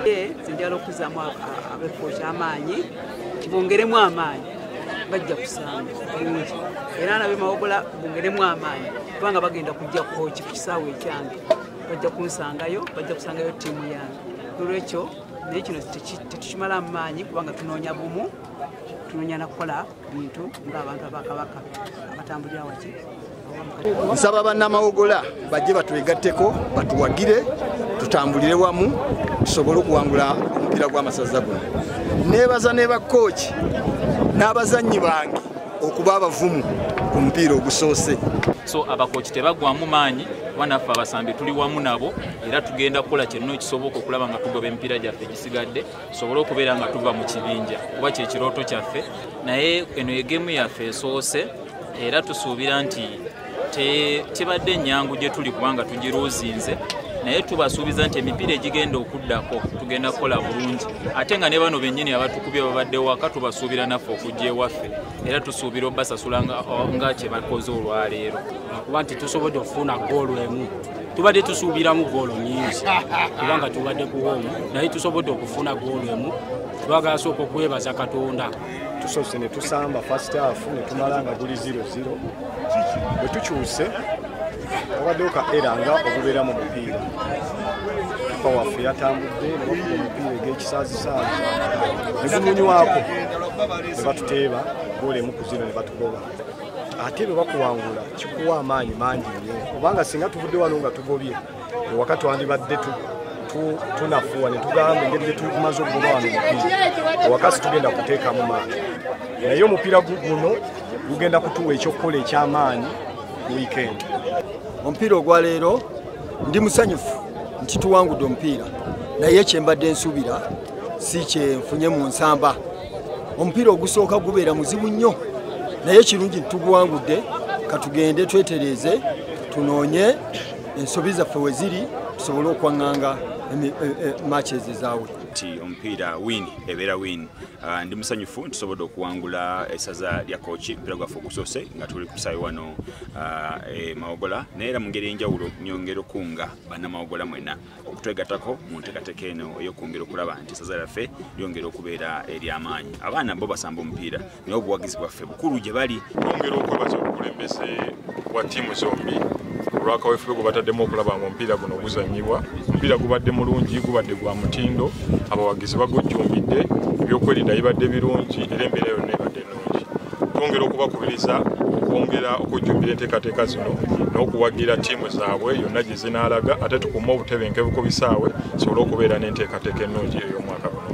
nze njala okuzaamu abekko kyamaanyi kibongeremu amaanyi bajja kusanga bulungi era nabe mawogola bongeremu amaanyi kubanga bagenda kujja kooki ku kisaawa ekyange bajja kunsangayo bajja kusangayo ttiimu yange olwekyo naye kino tetukimala mu maanyi kubanga tunoonya bumu tunoonya nakukola bintu ng'abantu abakabaka abatambulira waki nsaba bannamawogola bajje batwegatteko batuwagire tutambulire wamu tusobole okuwangula omupiira gw'amasaza guno neebaza ne bakkooki n'abazannyi bange okuba abavumu ku mupiira ogusoose so abakoki tebagwamu maanyi banaffe abasambi tuli wamu nabo era tugenda kukola kyenna ekisoboka okulaba nga tugoba emipiira gyaffe egisigadde tusobole okubeera nga tuva mu kibinja kuba kyekirooto kyaffe naye eno egemu yaffe esoose era tusuubira nti tebadde nyangu gye tuli kubanga tugiruuzinze naye tubasuubiza nti emipiira egigenda okuddako tugenda kukola bulungi ate nga ne bano bennyini abatukubye babadde waka tubasuubira naffe okujja ewaffe era tusuubira obasasula nga kyebakoze olwaleero kuba nti tusobodde okufuna goolu emu tubadde tusuubiramu goolo nyingi kubanga tubadde kuwoomu naye tusobodde okufuna goolo emu twagala sooka okwebaza katonda tusoose ne tusamba fastaafu ne tumala nga guli 00 bwe tukyuse obaddewo ka era nga ogubeera mu mupiira kipa waffe yatambudde nebakuba omupiira eg'ekisaazisaazi ne gumunywako ne batuteeba goolo emu ku zino ne batugoba ate bwe bakuwangula kikuwa amaanyi mangi nnyo kubanga singa tuvudde wano nga tugobye ewaka twandibadde tunafuwa ne tugamba engeri gyetumaze okugoba wano omupiira ewaka situgenda kuteekamu maanyi naye omupiira guno gugenda kutuwa ekyokukola ekyamaanyi wiikendi omupiira ogwaleero ndi musanyufu nti tuwangudde omupiira naye kyembadde nsuubira si kyenfunye mu nsamba omupiira ogusooka gubeera muzibu nnyo naye kirungi tuguwangudde katugende twetereeze tunoonye ensobi zaffe we ziri tusobole okwaŋŋanga e, e, maaki ezo ezaawe nti omupiira win ebeera win ah, ndi musanyufu ntusobodde okuwangula esaza lya kooki omupiira gwaffe ogusoose nga tuli kusayo wano ah, e mawogola naye era mu ngeri enjawulo nyongera okuunga bannamawogola mwena okutwegatako mu ntekateka eno eyokwongera okulaba nti esaza lyaffe lyongera okubeera eryamaanyi abaana bo basamba omupiira naye obuwagizi bwaffe bukulu gye bali yongera okwebaza obukulembeze bwa tiimu zombi olwakawefube gwe bataddemu okulaba nga omupiira guno guzanyibwa omupiira gubadde mulungi gubadde gwa mutindo abawagizi bagujjumbidde ebyokwerinda bibadde birungi era embeera yonna ebadde twongera okubakubiriza okwongera okujjumbira enteekateeka zino n'okuwagira ttiimu zaabwe yonna gye zinaalaga ate tukume obutebenkevu ku bisaawe tusobole okubeera n'enteekateeka ennungi ey'omwaka guno